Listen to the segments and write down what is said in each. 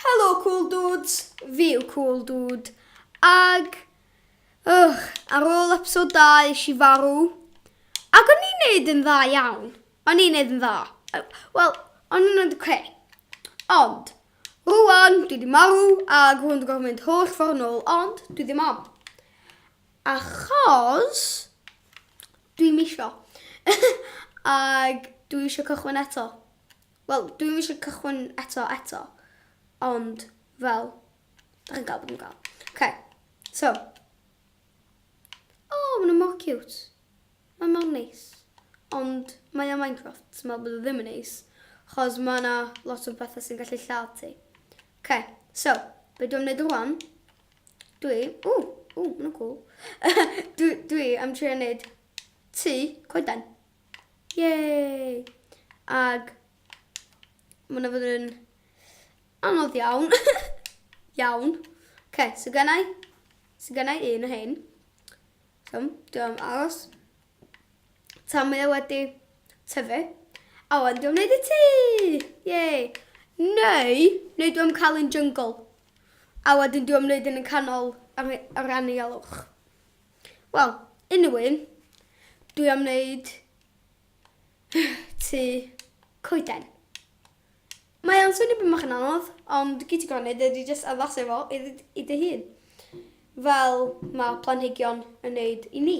Helo Cool Dudes, fi yw Cool Dude, ag Ugh, ar ôl episod da eisiau i farw. Ac o'n i'n neud yn dda iawn. O'n i'n neud yn dda. Wel, o'n i'n neud oce. Ond, rwan, dwi di marw ac rwan dwi'n gorfod mynd holl ffordd nôl, ond dwi ddim am. Achos dwi'm isio. Ac dwi isio cychwyn eto. Wel, dwi'm isio cychwyn eto eto. Ond, fel, da chi'n gael beth yn gael. OK, so. O, oh, maen mor cute. Mae mor neis. Ond mae o Minecraft, so mae bod o ddim yn neis. Chos mae yna lot o bethau sy'n gallu lladd ti. OK, so, be dwi'n gwneud rwan? Dwi, ww, ww, maen nhw'n cool. dwi, dwi am trio wneud tu coeden. Yay! Ag mae yna fod yn anodd iawn. iawn. Ok, so gennau, so gennau un o hyn. So, dwi'n aros. Tan mae o wedi tyfu. A wan dwi'n gwneud y tŷ! Yay! Neu, neu dwi'n cael un jungle. A wedyn dwi'n gwneud yn y canol ar, ar anialwch. Wel, unrhyw un, dwi am wneud tu coeden. Mae o'n swnio beth mach yn anodd, ond gyd ti gorau wneud ydy jyst addasu fo i, i dy hun. Fel mae planhigion yn wneud i ni.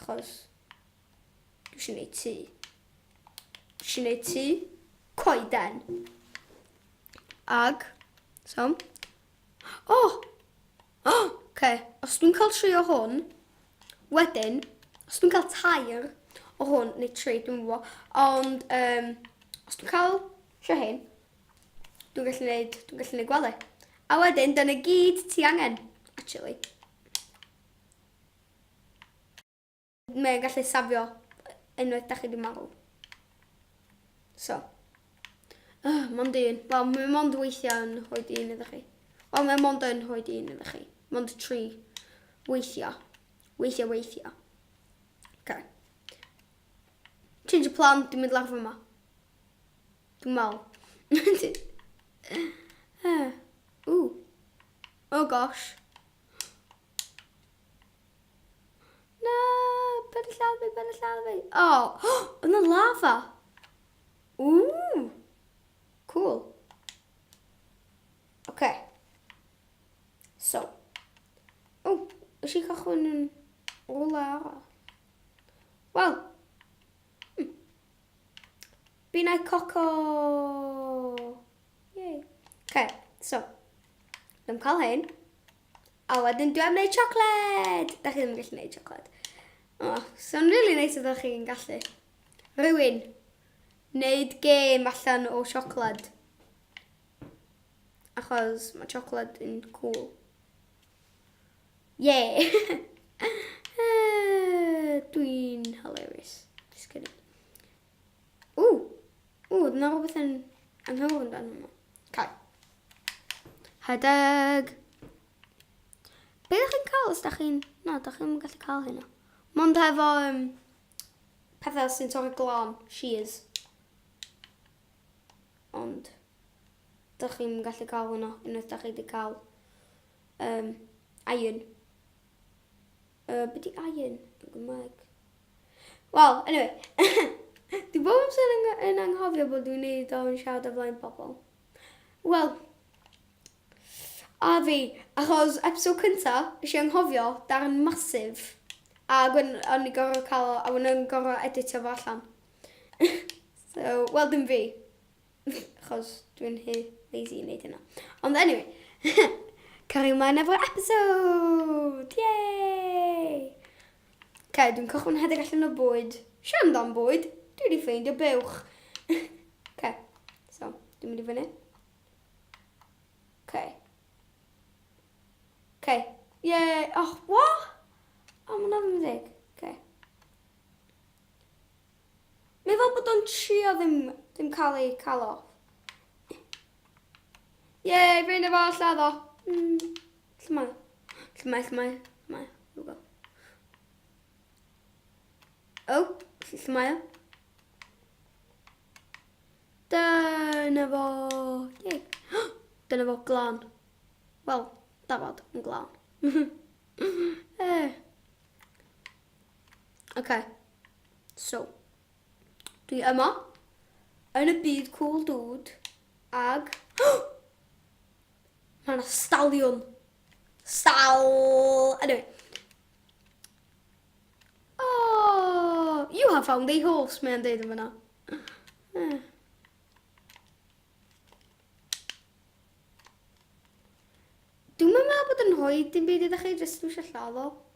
Achos dwi eisiau gwneud tŷ. Dwi eisiau gwneud tŷ coeden. Ag, so, o! Oh! O! Oh! Okay. Os dwi'n cael tri o hwn, wedyn, os dwi'n cael tair o hwn, neu tri, dwi'n fwy, ond um, os dwi'n cael tri hyn, dwi'n gallu gwneud, dwi'n gallu gwneud gwely. A wedyn, dyna gyd ti angen, actually. Mae e'n gallu safio unwaith da chi di marw. So. Oh, mond un. Wel, mae mond weithiau yn rhoi un iddo chi. Wel, mae mond yn rhoi un iddo chi. Mond tri. Weithiau. Weithiau, weithiau. Okay. Change y plan, dwi'n mynd lawr yma. Dwi'n mal. Ww. Oh gosh. Na, paid â lladd fi, paid â lladd fi. O, oh, oedd na lava. Ww, cool. Oce. Okay. So. O, oh, ys i cychwyn yn ola arall. Wel. Hmm. Bina coco. Yay. Okay, so, dwi'n cael hyn. A wedyn dwi am wneud siocled! Da chi ddim yn gallu wneud siocled. O, oh, so'n rili really neis ydych chi'n gallu. Rwy'n wneud gêm allan o siocled. Achos mae siocled yn cool. Yay! Dwi'n hilarious. Just kidding. Ww! Ww, oedd yna rhywbeth yn anghywir yn dan hwnna. Cael. Rhedeg! Be ydych chi'n cael os da chi'n... Na, da chi'n gallu cael hynna. Mond hefo um, pethau sy'n torri glân, shears. Ond, da chi'n gallu cael hwnna, unwaith da chi wedi cael um, iron. Uh, be di iron yn Gymraeg? Wel, anyway. Dwi bob amser yn, yn anghofio bod dwi'n neud o'n siarad o flaen pobl. Wel, a fi, achos episode cynta, nes i anghofio darn masif. A gwen, o'n i gorau cael, a wna'n gorau editio fo allan. so, wel dim fi. Chos dwi'n he lazy i wneud hynna. Ond anyway, cario mlaen efo'r episode! Yay! Ca, dwi'n cychwyn hedig allan o bwyd. Sian dan bwyd, dwi wedi ffeindio bewch. Ca, so, dwi'n mynd i fyny. Ca. Ca. Yay! Oh, what? Oh, mae'n ofyn deg. Ca. Mae fel bod o'n trio ddim ddim cael ei cael off. Yay, fein efo lladd o. Mm, lle mae? Lle mae, lle mae, lle mae? Rhywbeth. O, lle mae o? Dyna fo. Yay. Dyna fo glan. Wel, dafod yn glan. eh. Okay. So, dwi yma, yn y byd cŵl dŵd, ag... Mae yna staliwn! Stal! Anyway. Oh, you have found a horse, mae'n deud yn fyna. Eh. Dwi'n meddwl bod yn rhoi dim byd ydych chi, jyst dwi eisiau lladd o.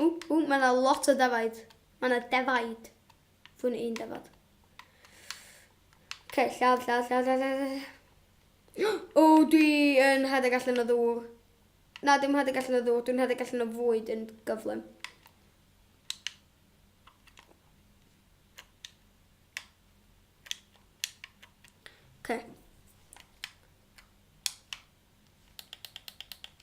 Ww, ww, mae yna lot o defaid. Mae yna defaid. Fwn un defod. Okay, lladd, lladd, lladd, lladd, lladd. O, dwi yn rhedeg allan o ddŵr. Na, dwi'n rhedeg allan o ddŵr, dwi'n rhedeg allan o fwyd yn gyflym. Okay.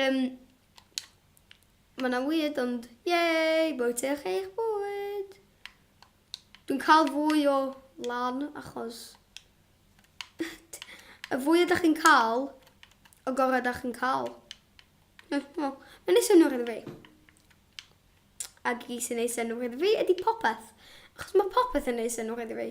Um, mae yna weird ond yay, bwytech eich bwyd. Dwi'n cael fwy o lan achos y fwy ydych chi'n cael, y gorau ydych chi'n cael. Mae'n ei synwyr iddo fi. Ac i sy'n ei synwyr iddo fi ydy popeth. Achos mae popeth yn ei synwyr iddo fi.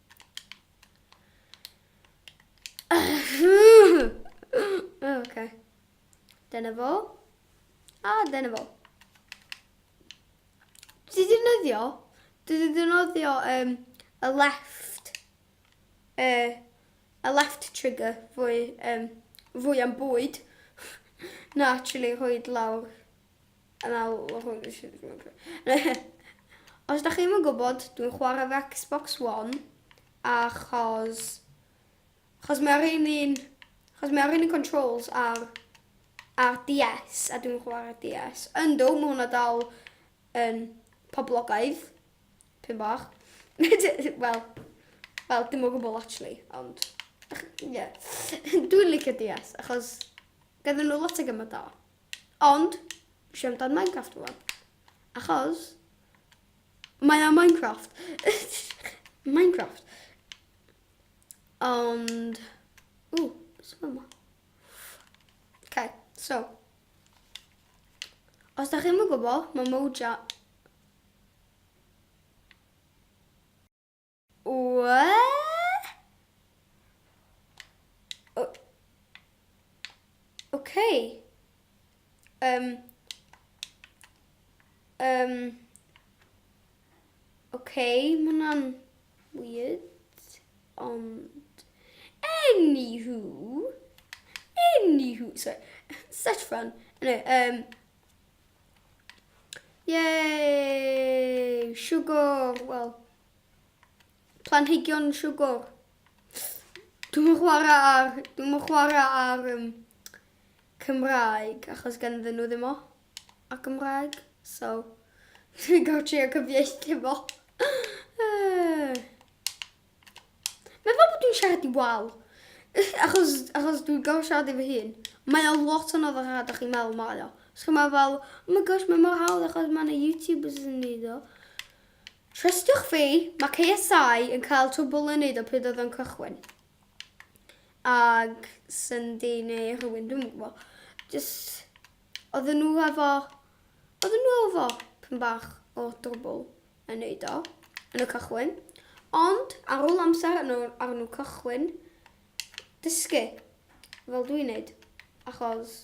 okay. Dyna fo. A dyna fo. Dwi wedi nyddio. Dwi wedi defnyddio um, y left uh, y left trigger fwy, um, fwy am bwyd na actually rhoi lawr Yn awr hwn i sy'n gwneud rhywbeth. Os da chi'n yn gwybod, dwi'n chwarae fe Xbox One, achos... Achos mae'r un un... Achos mae'r un un controls ar... Ar DS, a dwi'n chwarae DS. Ynddo, mae hwnna dal yn poblogaidd. Pyn bach. Wel, wel, dim o gwbl actually, ond... Ie. Dwi'n licio DS, achos... Gyda nhw lot o gymryd da. Ond, eisiau amdano Minecraft fo. Achos, mae o Minecraft. Minecraft. Ond, ww, sy'n yma. Okay, so. Os da chi'n gwybod, mae Moja Okay. Um. Um. Okay, mae hwnna'n weird, ond... Anywho, anywho, sorry, such fun. Anyway, um, yay, sugar, well, Planhigion siwgr. Dwi'm yn chwara ar dwi'm yn chwara ar um, Cymraeg achos ganddyn nhw ddim o ar Gymraeg. So dwi'n gorfod trio cyfieithu fo. Mae fel bod dwi'n siarad i wal. Achos, achos dwi'n gorfod siarad i fy hun. Mae o lot yn oddach a ydych chi'n meddwl mae o. Os chi'n meddwl fel, oh my gosh, mae mor hawdd achos mae yna YouTubers yn neud o. Trystiwch fi, mae KSI yn cael twbl yn neud o pryd oedd o'n cychwyn. Ag Syndi neu rhywun, dwi'm yn gwybod. Just, oedden nhw efo, oedden nhw efo pyn bach o drwbl yn neud o, yn y cychwyn. Ond, ar ôl amser yn ôl ar nhw cychwyn, dysgu, fel dwi'n neud. Achos,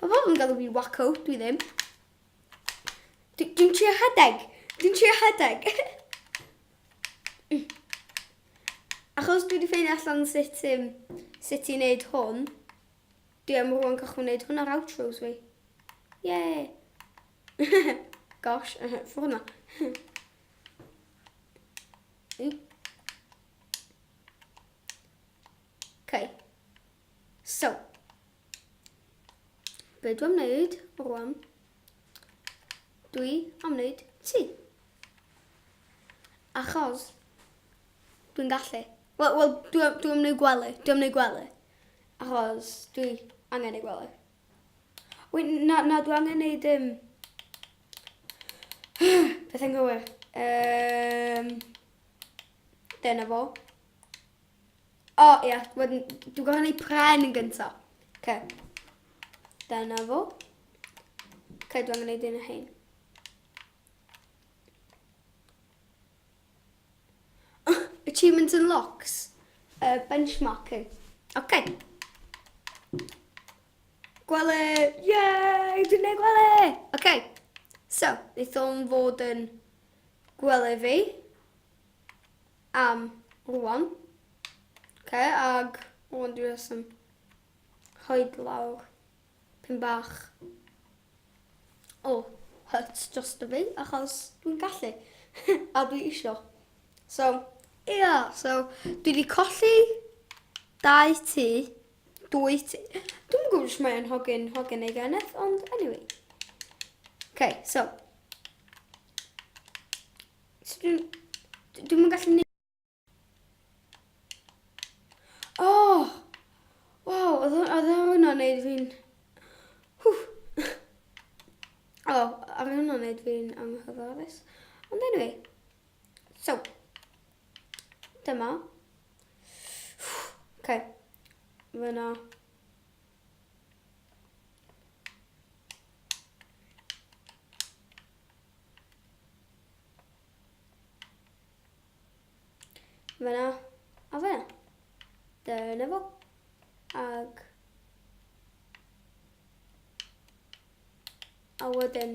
Ma pobl yn galw fi'n wacko, dwi ddim. Dwi, dwi'n trio rhedeg. Dwi'n trio rhedeg. Achos dwi wedi ffeindio allan sut, um, sut i wneud hwn, dwi am rwan gallu wneud hwn ar outros fi. Yay! Gosh, ffwrdd na. Okay. So, be dwi'n wneud rwan? Dwi am wneud ti. Achos dwi'n gallu. Wel, well, dwi, dwi am wneud gwely. Dwi am wneud gwely. Achos dwi angen ei gwely. Wy, na, na, dwi angen wneud... Um, beth yn gywir? Um, dyna fo. O, oh, ia, wedyn, dwi'n gorfod gwneud pren yn gyntaf. Ce. Dyna fo. Ce, dwi'n gwneud un o hyn. Achievements and locks. Uh, benchmarking. Oce. Okay. Gwele! Yay! Dwi'n gwneud gwele! Oce. Okay. So, wnaeth o'n fod yn gwele fi. am rwan. Oce, ag rwan dwi jyst yn rhoid lawr pyn bach o hut dros y fi, achos dwi'n gallu, a dwi isio. So, ia, yeah, so, dwi wedi colli dau tu, dwy tu. Dwi'n gwybod os mae'n hogyn, hogyn ei geneth, ond anyway. Okay, so, So dwi'n... Dwi'm yn gallu neud... O! Waw, oedd hw- oedd hwnna'n neud fi'n... Hw! O, a mae hwnna'n neud fi'n anghyfforddus. Ond anyway. So. Dyma. Hw! Okay. Fyna. Fyna, a fyna. Dyna fo. Ag... A wedyn,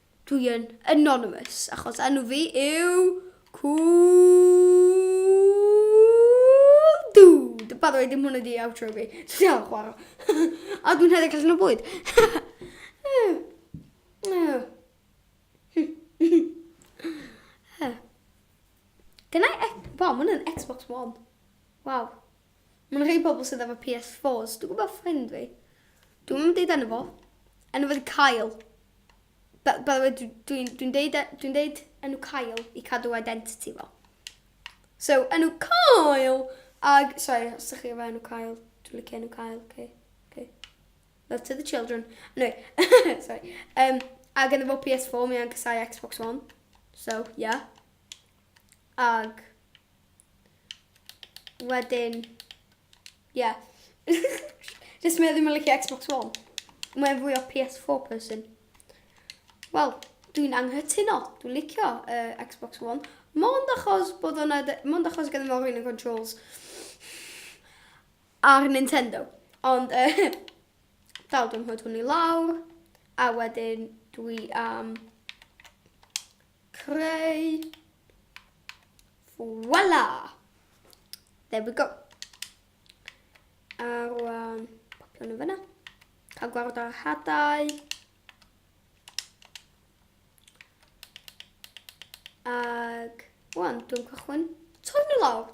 Dwi yn anonymous achos enw fi yw Cool Dude. By the way, dim hwnna 'di outro fi. Dwi am chwara. A dwi'n hefyd allan o bwyd. Dyna... Waw, ma' hwnna'n Xbox One. Waw. Mae'n rhei pobl sydd efo PS fours. Dwi'n gwybod ffrind fi. Dwi'n mynd deud enw fo. Enw fo di Kyle. By, by the way, dwi'n dwi, dwi deud, e, dwi deud enw Kyle i cadw identity fo. So, enw Kyle! Ag, sorry, os ydych chi efo enw Kyle, dwi'n licio enw Kyle, okay. okay. Love to the children. Anyway, sorry. Um, ag yn efo PS4, mi a'n cysau Xbox One. So, yeah. Ag, Wedyn, ie. Jyst mae o ddim yn licio Xbox One. Mae'n fwy o PS4 person. Wel, dwi'n anghytuno. Dwi'n licio uh, Xbox One. Mond achos bod o'na... Mond achos gyda fo'r un yn controls ar Nintendo. Ond, uh, dal dwi'n hwyd hwn i lawr. A wedyn dwi am... Um, Creu. Voila! There we go. A rwan, popio'n yn fyna. Cael gwared ar hadau. Ag, rwan, dwi'n cychwyn torri nhw lawr.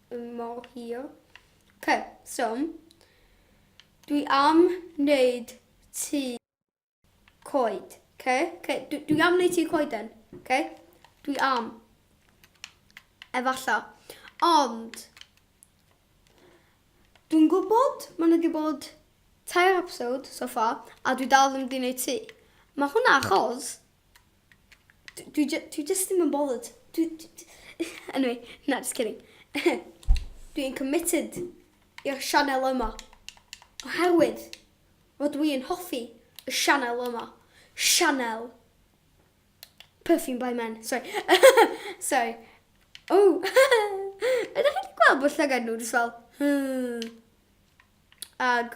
mor hir. Ok, so, dwi am wneud tŷ coed. Ok, ok, dwi, dwi am wneud tŷ coeden. Ok, dwi am. Efallai. Ond, Dwi'n gwybod, mae nhw wedi bod tair episode so far, a dwi dal ddim wedi gwneud ti. Mae hwnna achos, Dwi jy- dwi jyst ddim yn bothered. Dwi... Anyway, na, just kidding. Dwi'n committed i'r sianel yma. Oherwydd fod dwi yn hoffi y sianel yma. Sianel Perfume by Men. Sorry. Sorry. O! Ydych chi wedi gweld bod llygad nhw jyst fel... Hmm. Ag...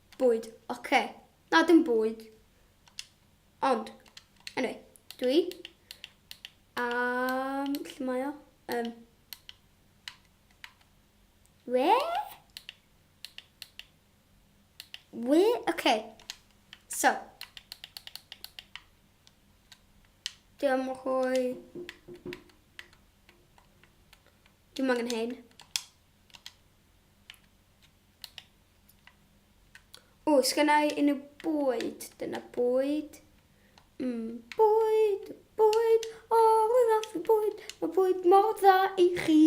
Bwyd. Oce. Na, dim bwyd. Ond. Anyway. Dwi. Am... Lle mae o? Um. We? We? Oce. So. Dwi am rhoi... Dwi'n angen hyn. O, sgynna i unrhyw bwyd. Dyna bwyd. Mm, bwyd, bwyd. O, oh, rwy'n fath o bwyd. Mae bwyd mor dda i chi.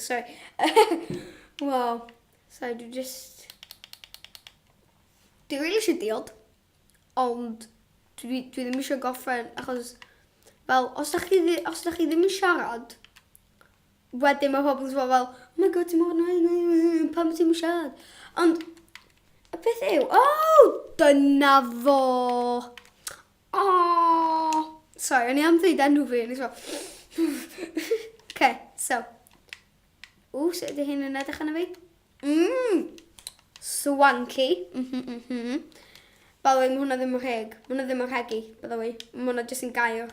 Sorry. wow. Sorry, dwi just... Dwi'n rili eisiau diod. Ond dwi, dwi ddim eisiau goffen achos... Fel, os da chi, os da chi ddim yn siarad, Wedyn mae pobl jyst fel fel oh my god ti mor annoying pam ti'm yn siarad? Ond y peth yw oh dyna fo! Aww! Sorry o'n i am ddeud enw fi o'n i fel Ok so Ww sut ydy hyn yn edrych arno fi? Mmm! Swanky! Mhm mhm. By the way ma' hwnna ddim yn rheg. Ma' hwnna ddim yn rhegi by the way. Ma' hwnna jyst yn gair.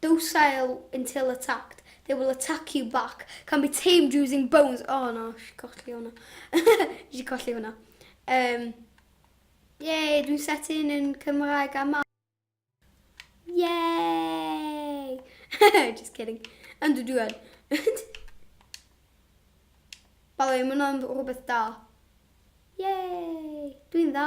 Docile until attacked, they will attack you back, can be tamed using bones. O oh, na, si colli hwnna. si colli hwnna. Um, Yay, dwi'n set in yn Cymraeg a ma. Yay! Just kidding. Ond dwi dwi'n. Balo, mae hwnna'n rhywbeth da. Yay! Dwi'n dda.